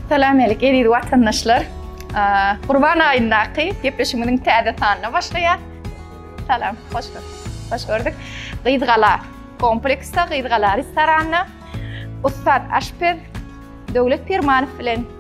Salam alik eziz watandaşlar. Gurban aýyndaky gepleşigimiziň täze sanyna başlaýar. Salam, hoş gördük. Hoş gördük. Gyzgala kompleksde, Gyzgala restoranda ussat aşpez Döwlet Pirmanow bilen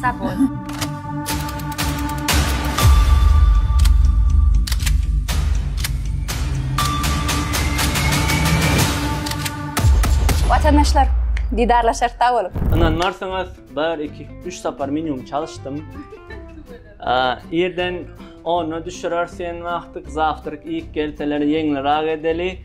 Sag bol. Watandaşlar, didarlaşar sag boluň. Ynanmarsyňyz, 1 2 3 sapar minimum çalyşdym. Ýerden onna düşürer sen wagtyk, zawtryk iýip gelseler ýeňlirak edeli.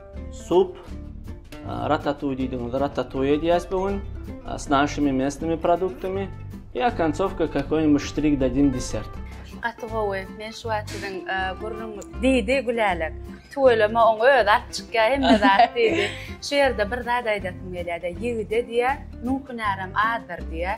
Sup, ratatuý diýdigiňizde ratatuý edýäs bu gün. S našimi mesnimi produktimi. I okonçowka kakoý-nibuş ştrik dadin desert. Gaty gowy. Men şu wagt siziň burnuňyz diýdi Gülälek. Tüweleme oň özi alyp çykýar hemme zat diýdi. Şu ýerde bir zat aýdasym gelýär-de, ýigide diýýär, nuň hünärem azdyr diýýär.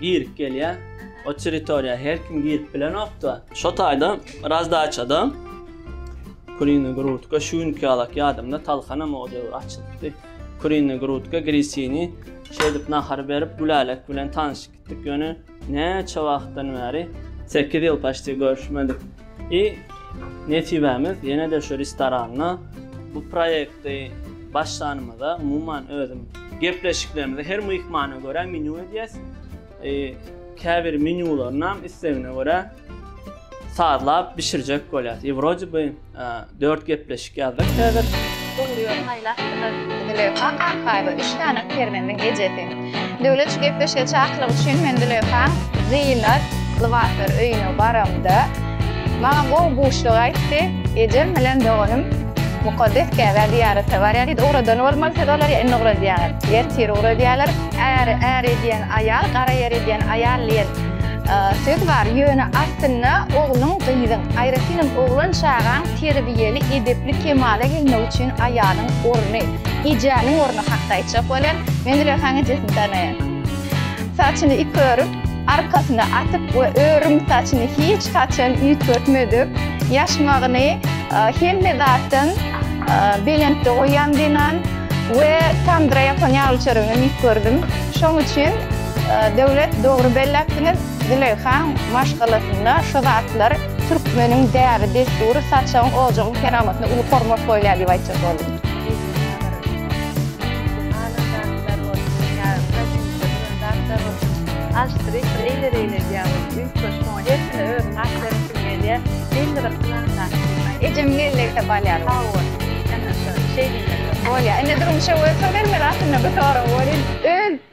Girip gelýä. O territoriýa her kim girip bilenokda. Şo taýda razdaçada Kurina Grutka şu günki ýalak ýadymda talhanam o döwür açylypdy. Kurina Grutka Grisini şeýdip nahar berip Gülälek bilen tanyşyp gitdik ýöne näçe wagtdan bäri sekiz ýyl paşti görüşmedik. I nesibämiz ýene-de şu restoranda bu proýekti başlanymyza, umuman özüm gepleşiklerimizi her myhmana görä menýu edýäs. I käbir menýularyny islegine görä sazlap bişirjek bolýas. I wrode by Dört gepleşik ýazdyk häzir. Dogry ýol saýlapdylar. Züleýha Kakaýewa üç sany perzendiň ejesi. Döwlet şu gepleşige çakylyk üçin men Züleýhaň zynat lybaslar öýüne baramda, maňa gowy buşlugy aýtdy, Ejem bilen doganym mukaddes Käbä zyýarata barýar diýdi. Ugradan bolmaly siz olary, indi ugradýaňyz. Ertir ugradýarlar. Äri är edýän aýal, gara ýer edýän aýal diýen Söz bar, ýöne aslynda ogluň, gyzyň, aýratynam oglan çagaň terbiýeli, edepli kemala gelmegi üçin aýalyň orny, ejäniň orny hakda aýtjak bolýan, men Zülehaň ejesini tanaýan. Saçyny iki örüp, arkasyna atyp we örüm saçyny hiç haçan üýtgetmedik, ýaşmagyny hemme zatdan belentde goýan zenan we tamdyra ýapan ýaly çörügini iýip gördüm. Şoň üçin. Döwlet dogry belläpsiňiz Züleyh han maşgalasynda şu zatlar Türkmeniň däbi dessury saçagyň ojagyň keramatyna uly hormat goýulýar diýip aýtjak boldum. Ejem gelleýse balýar bu. Bolýar. Indi durmuşa göz salyň men aslynda bu soragy berýin. Öz.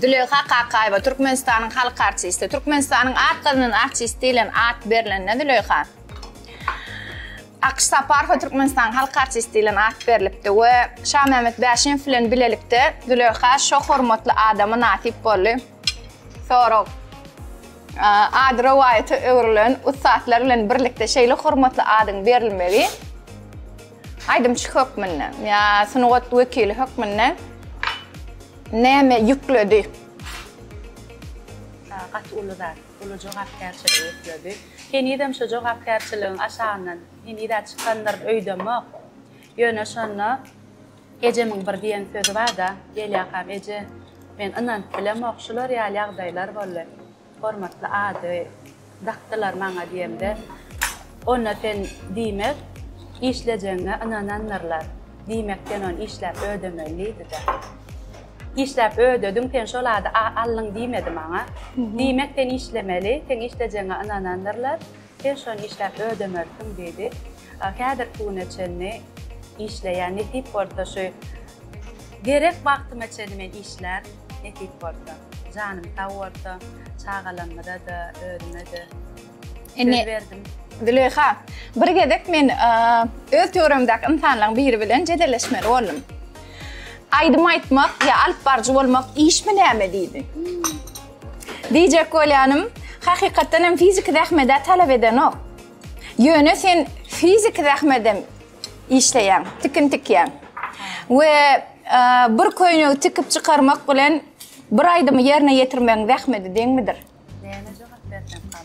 Züleýha Kakaýewa, Türkmenistanyň halk artisti. Türkmenistanyň at gazanan artisti diýlen at berlenine Züleýha Akyş Saparowa Türkmenistanyň halk artisti diýlen at berlipdi we Şamämmet Bäşimow bilen bilelikde Züleýha şo hormatly ada mynasyp boldy. Sorag. Ady rowaýata öwrülen ussatlar bilen birlikde şeýle hormatly adyň berilmegi, Aýdymçy hökmünde ýa sungat wekili hökmünde näme ýükledi? Gaty uly zat, uly jogapkärçilik ýükledi. Henizem şu jogapkärçiligiň aşagyndan heniz-ä çykandyr öýdemok. Ýöne şonda ejemiň bir diýen sözi bar-da, Gelýakam eje, men ynanyp bilemok, şular ýaly ýagdaýlar boldy. Hormatly ady dakdylar maňa diýemde, Onna sen diýmek, işlejegiňe ynanandyrlar. Diýmek sen ony işläp ödemeli diýdi-de. Işläp ödediň sen şol ady aldyň diýmedi maňa. Diýmek sen işlemeli, seň işlejegiňe ynanandyrlar. Sen şony işläp ödemersiň, diýdi. Häzirki güne çenli işleýän, nesip bolsa şu gerek wagtyma çenli men işlän, nesip bolsa. Janym sag bolsa, çagalarymyza-da, özüme-de söz berdim. Züleýha, bir gezek men öz töweregimdäki ynsanlaryň biri bilen jedelleşmeli boldum. Aýdym aýtmak ýa alypbaryjy bolmak işmi näme? diýdi. Diýjek bolýanym, hakykatdan hem fiziki zähmet-ä talap edenok. Ýöne sen fiziki zähmedem işleýäň, tikin tikýäň. We bir köýnegi tikip çykarmak bilen bir aýdymy ýerine ýetirmegiň zähmedi deňmidir? Näme jogap bersem, Hal?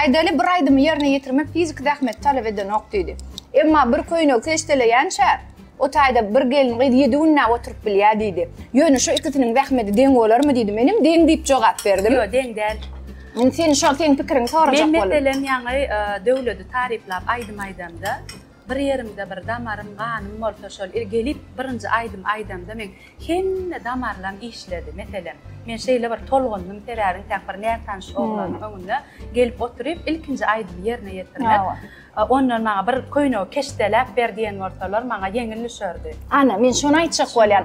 Aýdaly bir aýdymy ýerine ýetirmek fiziki zähmet talap edenok diýdi. Emma bir köýnegi keşdeleýänçä, o taýda bir gelin gyz ýedi günläp oturyp bilýär diýdi. Ýöne şu ikisiniň zähmeti deň bolarmy diýdi. Menem deň diýip jogap berdim. Ýok, deň däl. Indi sen şol seň pikiriňi sorajak boldum. Men meselem ýaňy e, Döwledi taryplap aýdym aýdamda, Bir ýerimde bir damarym, ganym bolsa şol il gelip birinji aýdym aýdamda meň hemme damarlam işledi. Meselem, men şeýle bir tolgundym sebäbi intäk bir nätanyş oglanyň öňünde gelip oturyp ilkinji aýdymy ýerine ýetirmek. Ondan maňa bir köýnegi keşdeläp ber diýen bolsalar maňa ýeňil düşerdi. Ana, men şony aýtjak bolýan.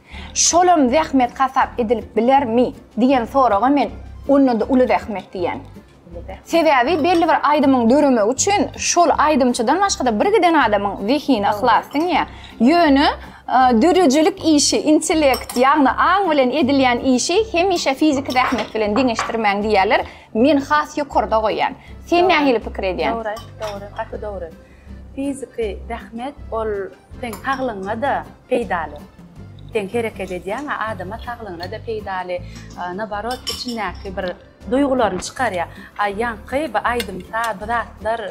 Şolam zähmet hasap edilip bilermi? diýen soraga men onda-da uly zähmet diýen. Sebäbi belli bir aýdymyň döremegi üçin şol aýdymçydan başga-da birgiden adamyň zehini yhlas siňýär. Ýöne döredijilik işi, intellekt, ýagny aň bilen edilýän işi hemişe fiziki zähmet bilen deňeşdirmäň diýýärler. Men has ýokarda goýýan. Sen nähili pikir edýäň? Dogry, dogry, gaty dogry. Fiziki zähmet ol seň saglygyňa-da peýdaly. Sen hereket edýäň-ä, adama saglygyna-da peýdaly, naborot, içindäki bir duýgularyny çykarýar. A ýaňky bu aýdym-saz, bu zatlar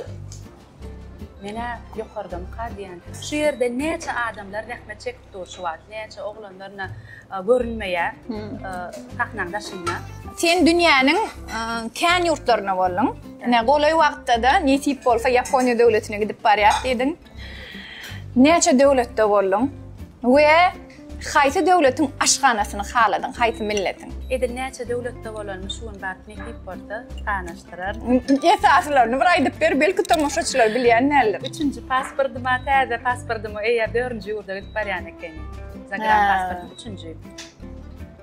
men-ä ýokardanka diýen. Şu ýerde näçe adamlar zähmet çekip dur şu wagt. Näçe oglanlaryna görünmeýär sahnanyň daşynda. Sen dünýäniň kän ýurtlaryna bolduň. Ine golaý wagtda-da nesip bolsa Ýaponiýa döwletine gidip barýas diýdiň. Näçe döwletde bolduň we haýsy döwletiň aşhanasyny haladyň, haýsy milletiň? Edil näçe döwletde bolanmy şu gün bar. Nesip bolsa sanaşdyrar. Esasylaryny bir aýdyp ber, belki tomaşaçylar bilýän däldir. Üçünji pasportyma, täze pasportyma eýer dördünji ýurda gidip barýan ekenim. Zagram pasportym üçünji.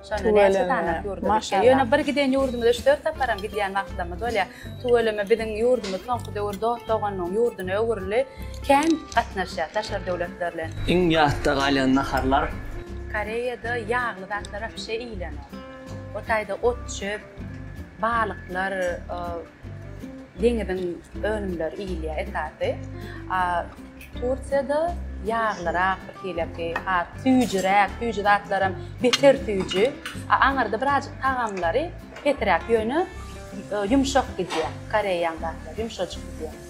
Şonda näçe sany ýurda gitdi. Ýöne bir giden ýurdumyza üç-dört saparam gidýän wagtlarymyz bolýar. Tüweleme biziň ýurdumyz soňky döwür dost-doganlygyň ýurduna öwrüldi. Kän gatnaşýar daşary döwletler bilen. Iň ýatda galýan naharlar? Koreýada ýagly zatlary wapşe iýilenok. O taýda ot-çöp, balyklar, deňiziň önümleri iýilýär esasy. Tursiýada ýaglyrak birhileki, süýjüräk, süýji zatlaram beter süýji. Aňyrda birazjyk tagamlary pesiräk, ýöne ýumşak gidýär. Koreýaň zatlary ýumşajyk gidýär.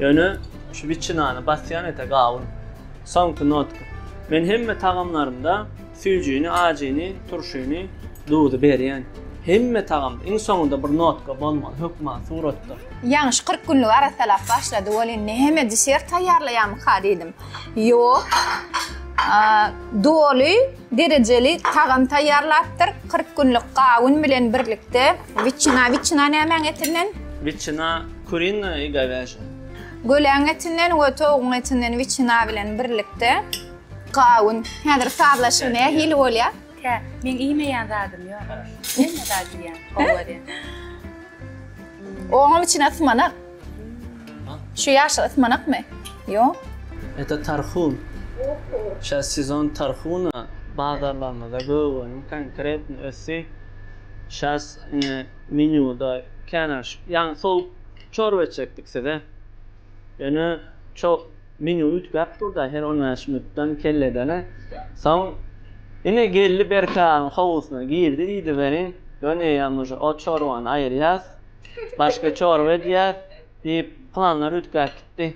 Ýöne şu wiçinany basýan ete gawun. Soňky notka. Men hemme tagamlarymda süýjini, ajyny, turşyny, duzy berýän. Hemme tagamda iň soňunda bir notka bolmaly hökman suratda. Ýaňyş kyrk günlük arassalap başlady welin näme desert taýýarlaýamyka diýdim. Ýok. Doly Derejeli tagam taýýarlapdyr, kyrk günlük gawun bilen birlikde. Wiçina, wiçina nämäň etinden? Wiçina, kurina i gowyajya. Göläň etinden we towugyň etinden wiçina bilen birlikde. Gawun. Häzir sazlaşygy nähili bolýar? Kä, meň iýmeýän zadym ýok. Hemme zat iýýän, gowy görýän. Oňam içine symanak. Şu ýaşyl ysmanakmy? Ýok. Ete tarhun. Şa sezon tarhuna bazarlarymyzda gögöniň konkretny ösi şas ine menýuda känä şu ýaňy sowuk çorba etjekdik size. Ýöne ço menýu üýtgäp durda her on bäş minutdan kelledene. Soň ine geldi Berkaryň howusyna girdi diýdiberiň. Ýöne eýýäm uje o çorbany aýyrýas. Başga çorba edýär, diýip, pylanlar üýtgäp gitdi.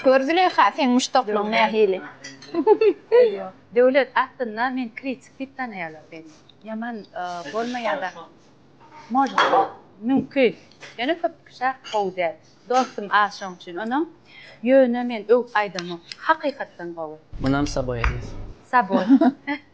Gör, Züleýha, seň muşdaklygyň nähili? Döwlet, aslynda, men kritik diýip tanaýarlar meni. Ýaman bolmaýan-da bolsa mümkin. Ýöne köp kişä gowy däl. Dostum az şoň üçin onuň. Ýöne men öwüp aýdamok. Hakykatdan gowy. Munam saboý edýär. Saboý.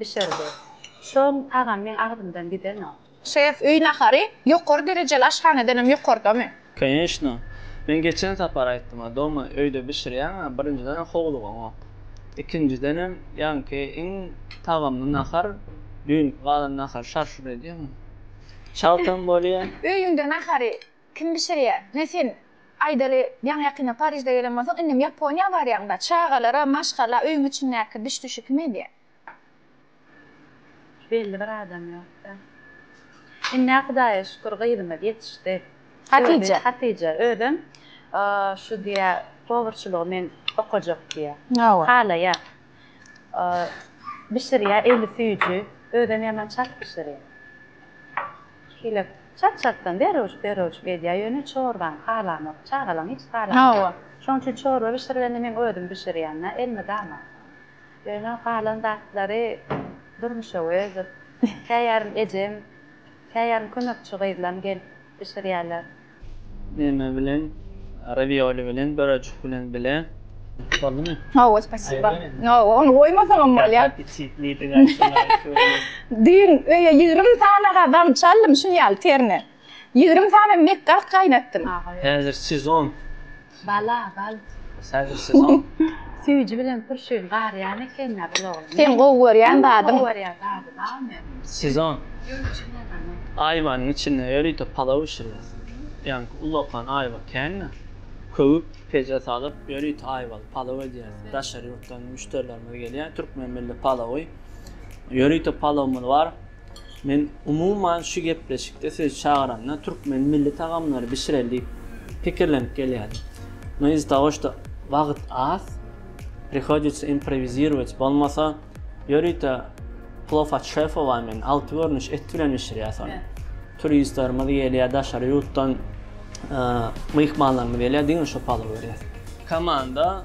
bişirdi. Soň tagam meň agzymdan gidenok. Ses, öý nahary ýokary derejeli aşhanadanam ýokardamy? Konýeçno. Men geçen sapar aýtdym-a, doma öýde bişirýäň-ä, birinjiden howlugyňok. Ikinjidenem, ýaňky iň tagamly nahar, düýnki galan nahar şar-şur edýäňmi? Çaltam bolýa. Öýüňde nahary Kim bişirýä? Ine sen, aýdaly, ýaňy-ýakynda Parižde gelen bolsaň, indem Ýaponiýa barýaň-da, çagalara maşgala, öýüň içindäki biş-düşi kim edýä? Belli bir adam ýok-da. Indi-ä Hudaýa şükür gyzymyz ýetişdi. Hatije. Hatije özem şu diýýä, powurçylygy men okajak diýýä. Hawa. Halaýar. bişirýär eli süýji özem ýaman çalt bişirýär şeýle çalt çaltdan derewş derewşik edýär ýöne çorbany halanok çagalam hiç halanok şoň üçin çorba bişirgende meň özüm bişirýän da elmydama ýöne galan zatlary Durmuş Öwezow käýarym ejem käýarym kömekçi gyzlam gelip bişirýärler. Neme bilen ravioli bilen börejik bilen bile boldumy. Hawa spasiba. Hawa ony goýmasaňam bolýa. Düýn öýe ýigrimi sany gadam çaldym şuny ýaly terine. Ýigrimi sany mekgart gaýnatdym. Häzir sezon. Bala bal. Häzir siz oň. Süýji bilen turşyny garýan ekeniň-ä bir oglan. Seň gowy görýän zadyň. Gowy görýän zadyň a men. Siz oň. Aýwanyň içinde ýörite palaw bişirýär. Ýaňky ulakan aýwa kände köwüp, peje salyp, ýörite aýwaly palaw edýäris. Daşary ýurtdan müşderilerimiz gelýär. Türkmen milli palawy. Ýörite palawymyz bar. Men umuman şu gepleşikde sizi çagyranda türkmen milli tagamlary bişireli diýip pikirlenip gelýädim. No iz-za togo şto wagt az, prihoditsa improwizirować, bolmasa ýörite plow at şefowa men alty görnüş et bilen bişirýäs ony. Turistlerimiz gelýä daşary ýurtdan myhmanlarymyz gelýä diňe şo palowy berýäs. Komanda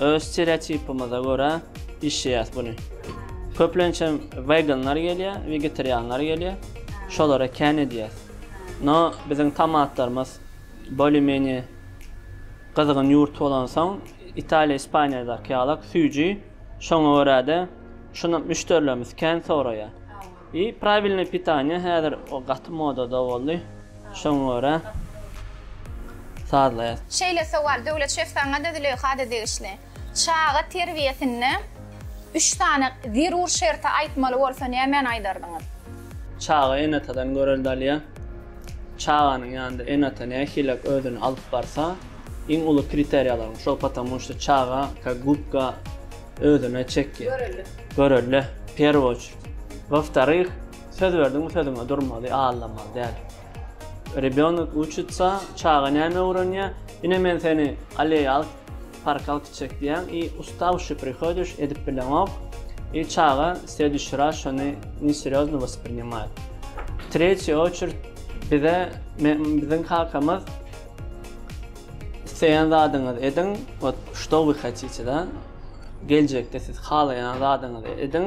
Öz stereotipimize görä işleýäs buny. Köplençem weganlar gelýä, wegetarianlar gelýä. Şolara kän edýäs. No biziň tomatlarymyz bolye menye gyzgyn ýurt bolansoň Italiýa Ispaniýadaky ýalak süýji şoňa görä-de şunam müşderilerimiz kän soraýa. I pravilnoý pitaniýa häzir o gaty modada boldy şoňa görä sazlaýas. Şeýle sowal Döwlet şef saňada Züleýhada degişli. Çaga terbiýesinde üç sany zerur şerti aýtmaly bolsa nämeni aýdardyňyz? Çaga ene-atadan görelde alýar. Çaganyň ýanynda ene-ata nähilek özüni alyp barsa iň uly kriteriýalaryň şol potomu şto çaga ka gubka özüne çekýär. Görelde. Görelde. Perwoç. Woftaryh, söz berdiňmi sözüňe durmaly, aldamaly däl. Rebýonok uçitsa, çaga näme öwrenýä, ine men seni aleýa alyp parka alyp gitjek diýýäň i ustavşi prihodyş, edip bileňok i çaga slediş raz şony neserýozno wasprinimaýt. Tretýi oçert bize biziň kakamyz isleýän zadyňyzy ediň, wot što wy hatite da, geljekde siz halaýan zadyňyzy ediň,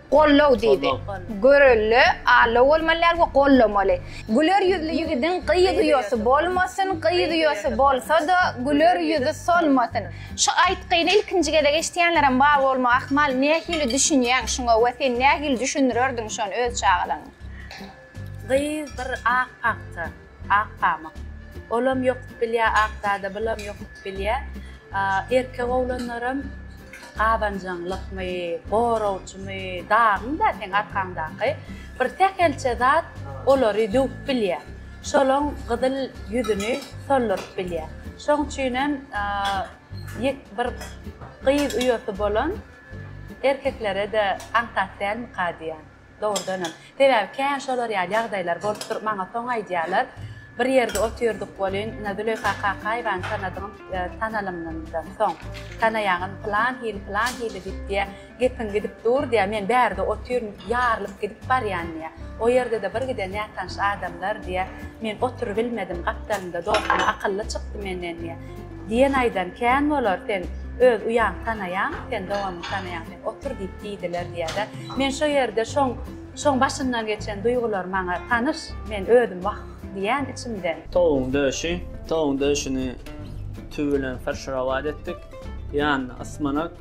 Gollow diýdi. Görelde allow bolmaly däl we gollamaly. Güler ýüzli ýigidiň gyz uýasy bolmasyn, gyz uýasy bolsa-da, güler ýüzi solmasyn. Şu aýtgyny ilkinji gezek eşidýänlerem bar bolmagy ahmal. Nähili düşünýäň şuňa we sen nähili düşündirerdiň şony öz çagalaryňa? Gyz bir ak pagta, ak pamyk. Olam ýokup bilýä ak zada bulam ýokup bilýä. Erkek oglanlaram gabanjaňlykmy, goragçymy, dagyň-da seň arkaňdaky bir sähelçe zat olary döwüp bilýä. Şolaň gyzyl ýüzüni solduryp bilýä. Şoň üçinem ýek bir gyz uýasy bolan erkeklere-de aňsat dälmika diýýän. Dogrudanam. Sebäbi kän şolar ýaly ýagdaýlar bolup dur, maňa soň aýdýarlar. Bir ýerde otyrdyk welin, ine, Züleýha Kakaýewany tanadym, tanalymdan soň, tanaýaňyzmy, pylan hili, pylan hili diýip, diýýär, gepiň gidip dur, diýýär, men bärde otyryn, ýarylyp gidip barýan, diýýär. O ýerde-de bir giden nätanyş adamlar, diýýär, men oturybilmedim, gapdalymda dostum, akylly çykdy menden, diýýär. Diýen aýdan kän bolar sen öz uýaňy tanaýaň sen doganyňy tanaýaň sen otur diýip diýdiler diýýädä men şo ýerde şoň şoň başyndan geçen duýgular maňa tanyş men özüm wah diýýän içimden. Towugyň döşi, towugyň döşüni tüwi bilen fyrşrawat etdik, ýanyna ysmanak,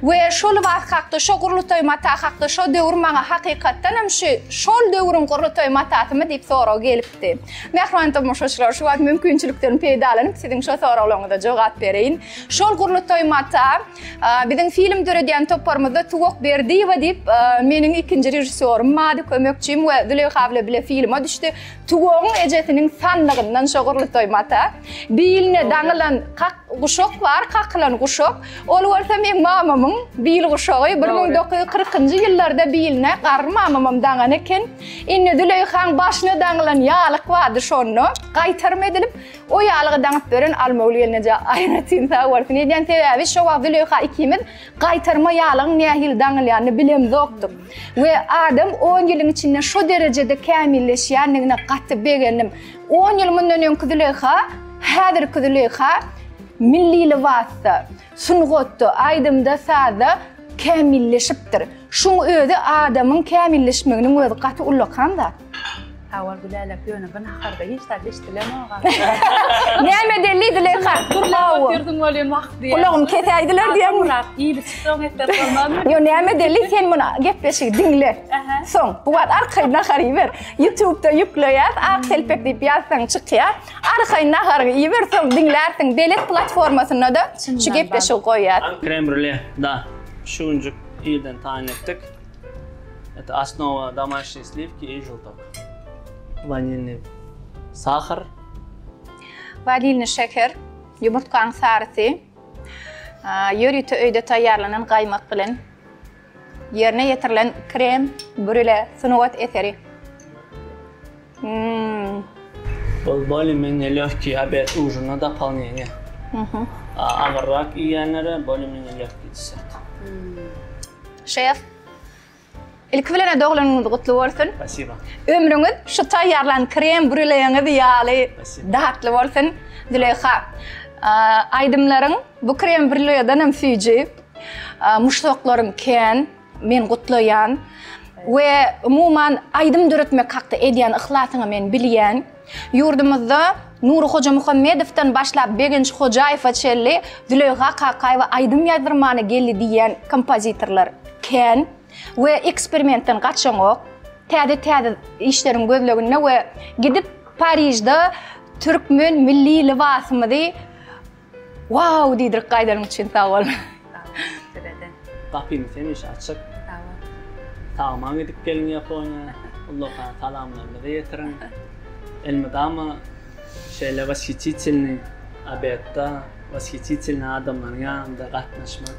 We şo lybas hakda, şo gurlutaý mata hakda şo döwür maňa hakykatdan hem şu şol döwrüň gurlutaý matasymy diýip sorag gelipdi. Mähriban tomaşaçylar, şu wagt mümkinçilikden peýdalanyp siziň şo soraglaryňyza jogap bereýin. Şol gurlutaý mata biziň film döredýän toparymyzda Tuwak Berdiýewa diýip meniň ikinji režissýorym mady kömekçim we Züleýha bile bile filma düşdi. Tuwagyň ejesiniň sanlygyndan şo gurlutaý mata biline daňylan kak Guşak bar, kakylan guşak. Ol bolsa meň mamamyň bil guşagy. Bir müň dokuz ýüz kyrkynjy ýyllarda biline garry mamamam daňan eken. Indi Züleýhaň başyna daňylan ýalyk bardy şonda. Gaýtarym edilip, o ýalygy daňyp beren Almogül gelneje aýratyn sag bolsun. Eýdýän sebäbi şo wagt Züleýha ikimiz gaýtarma ýalygyň nähili daňylýanyny bilemzokdyk. We adam on ýylyň içinde şo derejede kämilleşýändigine gaty begendim. On ýyl mundan öňki Züleýha, häzirki Züleýha milli lybasda, sungatda, aýdymda, sazda kämilleşipdir. Şuň özi adamyň kämilleşmeginiň özi gaty ullakan zat. Sag bol Gülälek, ýöne bu naharda hiç zat eşdilenok-a. Näme deli Züleýha? Gürläp otyrdyň welin wah diýýän. Gulagym kesäýdiler diýýän. Murat, iýlip çyksaň etler bolmazmy? Ýöne näme deli, sen muny gepleşigi diňle. Soň, bu wagt arkaýyn nahar iýiber. Ýutubda ýükleýäs, Ak telpek diýip ýazsaň çykýar. Arkaýyn naharyňy iýip ýör, soň diňlärsiň. Belet platformasynda-da şu gepleşigi goýýas. Krem brule, da, şu günjük irden taýyn etdik. Eto osnowa domaşniý sliwki i žutok. Wanilniý sahar. Wanilniý şeker, ýumurtgaň sarysy, ýörite öýde taýýarlanan gaýmak bilen. Ýerine ýetirilen krem brüle sungat eseri. Mmm. Ol bolemiýne lehki obed ujina dopolneniýe. Mhm. Agyrrak iýýänlere bolemiýne lehki desert. Şef, ilki bilen-ä doglunyňyz gutly bolsun. Spasiba. Ömrüňiz şu taýýarlan krem brüleňiz ýaly datly bolsun, Züleýha. Aýdymlaryň bu krem brüledenem süýji. Muşdaklarym kän, men gutlaýan we umuman aýdym döretmek hakda edýän yhlasyňy men bilýän. Ýurdumyzda Nury Hojamuhammedowdan başlap Begenç Hojaýewe çenli Züleýha Kakaýewa aýdym ýazdyrmany geldi diýýän kompozitorlar kän we eksperimentden gaçaňok. Täze täze işleriň gözleginde we gidip Parižde türkmen milli lybasymyzy Wow diýdirik gaýdanyň üçin sag bol. Sag bol sizede. Gapymyz hemişe açyk. Sag bol. Sagman gidip geliň Ýaponiýa. Ullakan salamlarymyzy ýetiriň. Elmydama şeýle washytitelnyý obedda, washytitelnyý adamlaryň ýanynda gatnaşmak.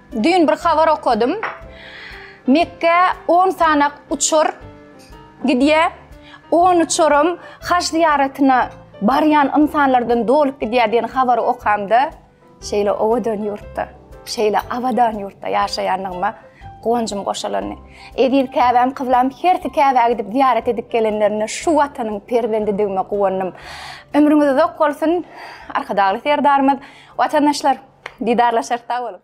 Düýn bir habar okadym. Mekgä on sanak uçar gidýär. On uçaram haj zyýaratyna barýan ynsanlardan dolup gidýär diýen habary okamda, şeýle owadan ýurtda, şeýle abadan ýurtda ýaşaýandygyma guwanjym goşalandy. Eziz Käbäm, kyblam, hersi Käbä gidip zyýarat edip gelenlerinde şu Watanyň perzendidigime guwandym. Ömrüňiz uzak bolsun, Arkadagly Serdarymyz. Watandaşlar, didarlaşarys, sag boluň!